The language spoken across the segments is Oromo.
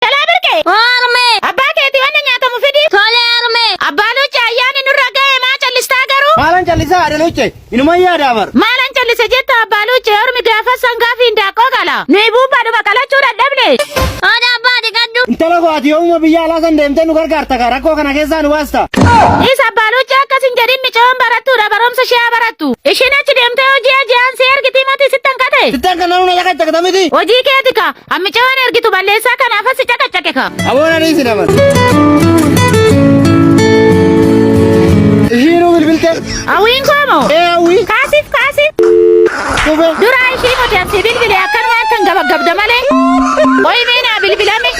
Jalaa birqee. Oo harmee. Abbaa keetii wanna nyaatamu fidii. Tole harmee. Abbaa Luuccee ayyaanni nurra ga'e maa callistaa garuu? Maalan callisaa haadha Luuccee? Inuman yaadaa bar. Maalan callisa jetta abbaa Luuccee ormi gaafas sangaafi hindaaqqoo qala. Nuyi buuphaadhuma qalachuu dadhabne. Hooda abbaa dhiqadhu. Intala koo ati yoomuma biyya alaa san deemtee nu gargaarta kaa rakkoo kana keessaa nu baasta. Dhiis abbaa Luuccee akkas hin jedhin micoon barattuudha barumsa ishee haa barattu. Ishiin achi deemtee hojii aji'aan si ergitii moti sittan kate. Sittan kan namni na caqacaqta miti. Hojii keeti kaa. Hammicee waan ergitu balleessaa kanaaf asi caqacaqe ka. Aboon ani isin amana. Ishiinuu bilbilte. Hawwiin koo moo? Ee hawwii. Kaasif kaasif. Dhube. Duraa ishii nuti atti bilbile akkanuma akkan gabaggabda malee. Qoyi mee naa bilbilame.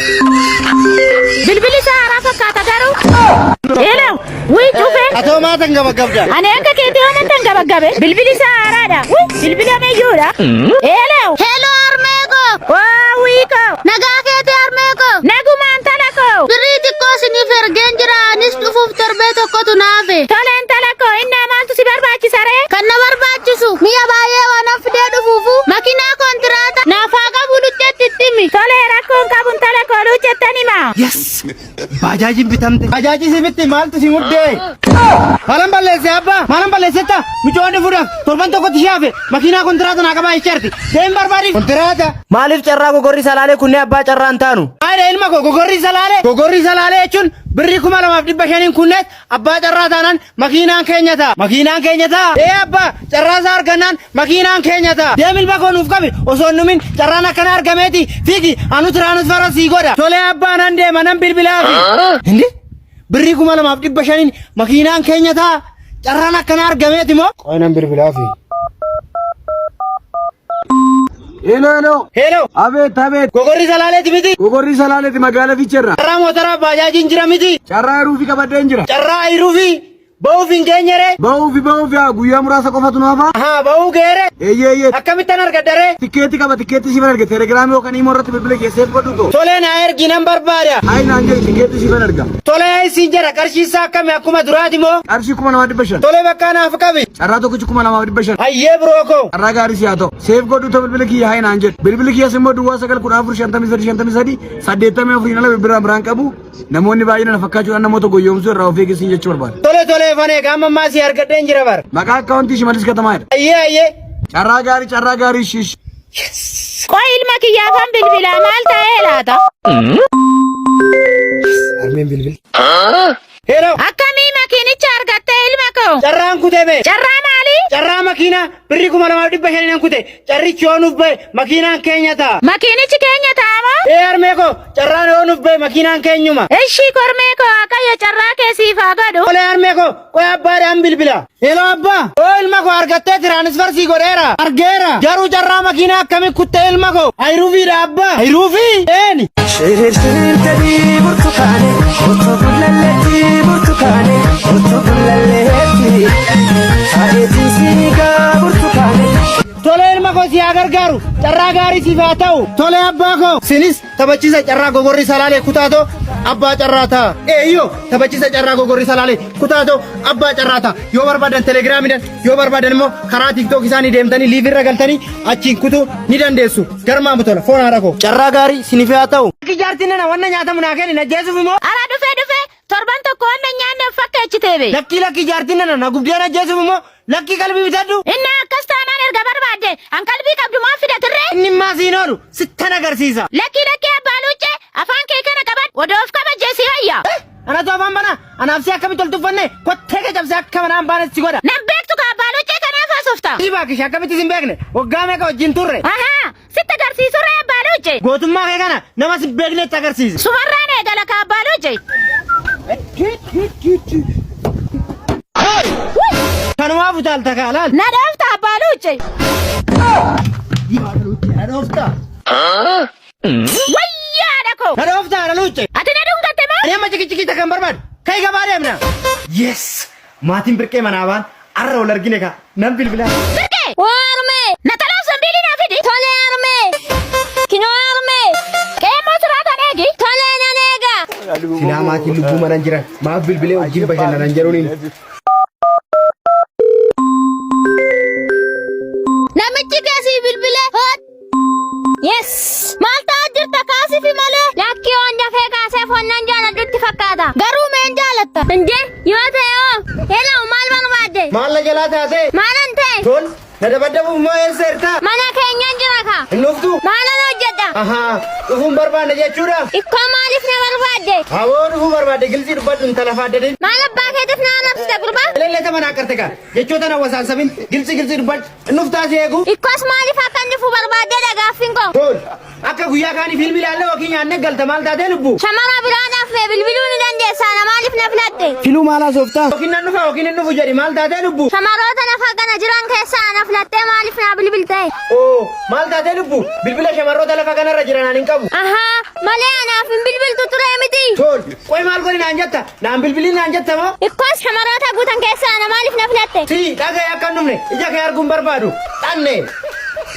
Bilbili isaa haaraa fakkaata garuu. Eelaa. Wii cufe. Atoo maatan gabagabda. Ani akka keetii hoo matan gabagabe. Bilbili isaa haaraadha. Wii bilbila meeyyuudha. Eelew. Hello harmee koo. Waa wii koo. Nagaa keetii harmee koo. Nagumaan tala koo. Birrii xiqqoo siniif ergeen jira anis dhufuuf torbee tokkotu naafe. Toleen tala koo innaa maaltu si barbaachisa ree? Kan na barbaachisu mi'a baay'ee waan of fidee dhufuufu makinaa kontiraata naaf haa qabu lucheetti itti himi. Tolee rakkoon qabun tala koo luuchettan himaa. Baajaajiin bitamte. Bajaajii si bitti maaltu si muddee? Maalan balleesse abbaa? Maalan balleessetta? Mucaa dhufuudhaaf torban tokkotti shaafe makiinaa kontiraata naa qabaa jechaarti. Deem barbaadi. Kontiraata. Maaliif carraa gogorri salaalee kunnee abbaa carraa hin taanu? Maayidha ilma koo gogorri salaalee. Gogorri salaalee jechuun birrii kuma lamaaf dhibba shaniin kunnees abbaa carraa taanaan Makiinaan keenya ta'a! Makiinaan keenya ta'a! Ee abbaa! Carraa isaa argannaan makiinaan keenya ta'a! Deem ilma koo nuuf qabi! Osoo hin dhumin carraan akkanaa argameeti! Fiigi! Anu tiraanisfara sii godha! Tolee abbaa nan deema nan bilbilaafi! Hindi? Birrii kuma lamaaf dhibba shaniin makiinaan keenya ta'a! Carraan akkanaa argameeti moo? Qoy nan bilbilaafi! Heloo heloo. Heloo. Abeet abeet. Gogorri salaaleeti miti. Gogorri salaaleeti magaala fiicherra. Carraa mootaraa baajaajiin jira miti. Carraa ayiruufi qabadheen jira. Carraa ayiruufi ba'uuf hin geenyere. Ba'uufi ba'uufi haa guyyaa muraasa qofatu naaf haa. Ahaa ba'uu geere. Eeyyee eeyyee. Akkamittan argadhare? Tikkeetti qaba tikkeetti siifan arga telegiraamii yookaan imoo irratti bilbila keessee fudhadhu too. Tolee naa ergi nan barbaada. Ayi naan jedhi tikkeetti siifan arga. Tolee isin jedha qarshii isaa akkami akkuma duraati moo? Qarshii kuma namaa dhibba shan. Tolee bakkaa naaf qabi. Carraa tokkichi kuma namaa dhibba shan. Hayyee biroo koo. Carraa gaarii siyaa ta'u. seef godhu ta bilbila kiyya hayi naan jedhu bilbili kiyyas immoo duwwaa sagal kudha afur shantamii sadii shantamii sadii saddeettamii afuriin ala bilbila biraan qabu namoonni baay'ina na fakkaachuudhaan namoota goyyoomsuu irraa of eeggisiin jechuu barbaada. Tole tole fanee qaama ammaa si argadheen jira bar. Maqaa akkaawuntii shimalis katamaa jedha. Ayyee ayyee. Carraa gaarii carraa gaarii shish. Qoy ilma kiyya afaan bilbilaa maal ta'ee laata? Armeen bilbil. Hello. Akkamii makiinicha argattee ilma koo? Carraan kutee bee. Carraa maalii? Carraa makiinaa birrii kuma lamaaf dhibba shanii nan kute. Carrichi yoo nuuf ba'e makiinaan keenya ta'a. Makiinichi keenya ta'a moo? Ee harmee koo carraan yoo nuuf ba'e makiinaan keenyuma. Ishii kormee koo Waaqayyo carraa kee siif haa godhu. Olee harmee koo qoy abbaadhaan bilbila. Hello abba! Oo ilma koo argattee tiraanisfar sii godheera. Argeera. Garuu carraa makiinaa akkami kuttee ilma koo? Ayiruufiidha abba. Ayiruufii? Eeni. Shirishirtanii burtukaane otoo gullalleetti burtukaane otoo gullalleetti taa'eetii siigaa burtukaane. Tole ilma koo si haa gargaaru. Carraa gaarii siif haa ta'u. Tole abbaa koo. Sinis Taphachiisa Carraa Gogorri Salaalee Kutaatoo Abbaa Carraa ta'a. Eeyyoo taphachiisa Carraa Gogorri Salaalee Kutaatoo Abbaa Carraa ta'a. Yoo barbaadan telegiraamiidhaan yoo barbaadan immoo karaa tiktook isaanii deemtanii liivii irra galtanii achiin kutuu ni dandeessu. Garmaa Butola foon haadha koo. Carraa gaarii sinif haa ta'u. Akka ijaartiin nana wanna nyaatamu naa kenni na jeesuuf immoo. Ara dhufe dhufe Torban tokko waan na nyaanne of fakkeechitee bee. Lakkii lakkii jaartiin nana na gubdeen ajjeesuuf immoo lakkii qalbii bitadhu. Innaa akkas taanaan erga barbaadde an qalbii qabdu maaf fida turree? Inni immaa siin oolu sittan agarsiisa. Lakkii lakkii abbaa luuccee afaan kee kana qabadhu odoo of kabajjee si wayya. Eh, Anatu afaan bana anaaf si akkamitti ol tuffanne kottee kee cabsee akka manaan baanes si godha. Nan beektu ka abbaa luuccee kanaaf haasofta. Dhiibaa kisha akkamitti sin beekne waggaa meeqa wajjin turre. Ahaa Sitti agarsiisu irra abbaa luujje. Gootummaa kee kana nama si beeknetti agarsiisi. Sumarraan eegala ka abbaa luujje. Kanumaaf utaalta kaa laal. Na dhoofta abbaa luujje. Na dhoofta. Wayyaa haadha koo. Na dhoofta haadha luujje. Ati na dhungatte moo? Ani amma cikichikiita kan barbaadu. Kai gabaa deemna. Yes! Maatiin birqee manaa baan arra wal argine kaa nan bilbilaa. Birqee! Waa harmee! Natalaaf zambiilii naa fidi. Tolee harmee! Kinoo harmee! Qeemmoo siraa tan eegi. Tolee nan eega. Silaa maatiin lubbuu manan jiran maaf bilbilee wajjin bashannanan jedhuniin. Namichi kee sii bilbilee hoot. Yes! Maal ta'aa jirta kaasifi malee? Lakkii waan dafee kaasee fonnan jaaladhutti fakkaata. Garuu meen jaalatta? Indee yoo ta'e hoo? Hello maal barbaadde? Maal na jalaa taatee? Maalan ta'e? Tol, na dabaddabuuf moo eessa ertaa? Mana keenyan jira kaa. Hin dhuftu? Maalan hojjedha? Ahaa, dhufuun barbaanna jechuudha? Ikkoo maaliif na barbaadde? Hawoo dhufuu barbaadde gilsii dubbadhu intala faaddadin. Maal abbaa keetiif na arrabsita gurbaa? Eleellee taman haqarte kaa. Jechoota na wasaansabin gilsii gilsii dubbadhu. Nuftaa si eegu. Ikkos maaliif akka inni dhufu barbaaddeedha gaaffiin koo. Gool. Akka guyyaa kaanii fiilmii ilaallee yookiin nyaannee galta maal taatee lubbu? Shamara biraadhaaf mee bilbiluu ni dandeessaa na maaliif na filatte? Filuu maal haasoftaa? Yookiin nan dhufa yookiin hin dhufu jedhi maal taatee lubbu? Shamaroota lafa kana jiran keessaa na filattee maaliif naa bilbilte? Oo maal taatee lubbu? Bilbila shamarroota lafa kanarra jiran ani hin qabu. Ahaa malee anaaf hin bilbiltu turee miti. Gool. Qoy maal godhi naan jetta? Naan bilbilii naan jette moo? Ikkoos shamarootaa guutan keessaa ana maaliif na filatte? T, Dhaga'i akka hin dhumne. Ija kee arguu hin barbaadu. Xanne.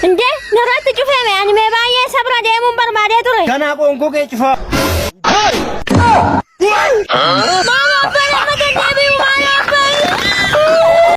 Inde, narratti cufeeme ani mee baay'ee sabra deemuun barbaadee ture. Ganaa qoonkoo kee cufaa. Maaloo abbaa lammata hin deebi'u maaloo abbaa.